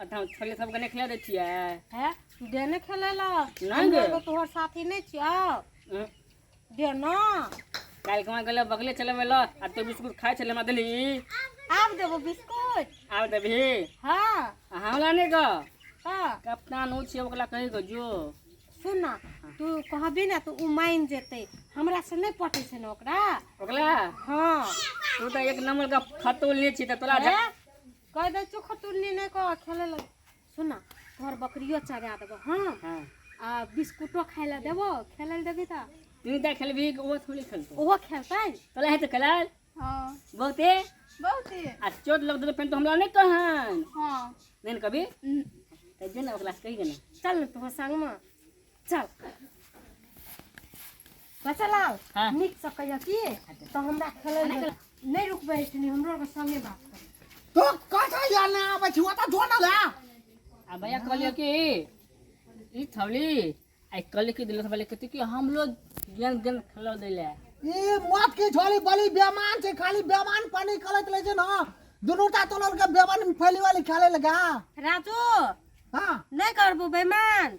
आ धाम छोड़ले सबके नहि खिला दै छियै है दे ने खेले ला नहीं हम दे। एगो तोहर साथी नहीं छियो हम्म, दे ना काल्हि कमा गेलै बगले चलबै लऽ आ तो बिस्कुट खाइ छलै हमरा देली आब देबो बिस्कुट आब देबही हाँ आ हमरा नहि गऽ हाँ कप्तान ओ छियै ओकरा कहि गऽ जो सुन ना तू कहबी ना तो उ मान जेते हमरा से नहीं पटे छै ना ओकरा ओकरा हाँ तू तऽ एक नंबर का फतो ले छी तऽ तोरा हैं? कह दे चोख तुलनी नहीं कह खेले लग सुन ना तोहर बकरियो चरा देबो हां हां आ बिस्कुटो खाए ला देबो खेले ला देबी त तू त खेलबी वो थोड़ी खेलतो ओहो खेलतै तोला है तो खेलाल हां बहुते बहुते आ चोट लग दे पेन तो हमरा नहीं कहन हां नहीं कभी त जे ना ओकरा से कहि दे ना चल न तोहर संग में चल बच्चा लाल हाँ। निक से कहियो की तो हमरा खेले नहीं रुकबे इतनी हमरो के संगे बात कर तो कथा या ना आबै छी ओता जो ना ला आ भैया कहलियो कि ई थौली आई कल के दिल सबले कहती कि हम लोग गेन गेन खेलो देले ई मत के छोली बली बेमान छै खाली बेमान पानी कलत ले छै ना दुनूटा तोलल के बेमान फैली वाली खेले लगा राजू हां नहीं करबो बेमान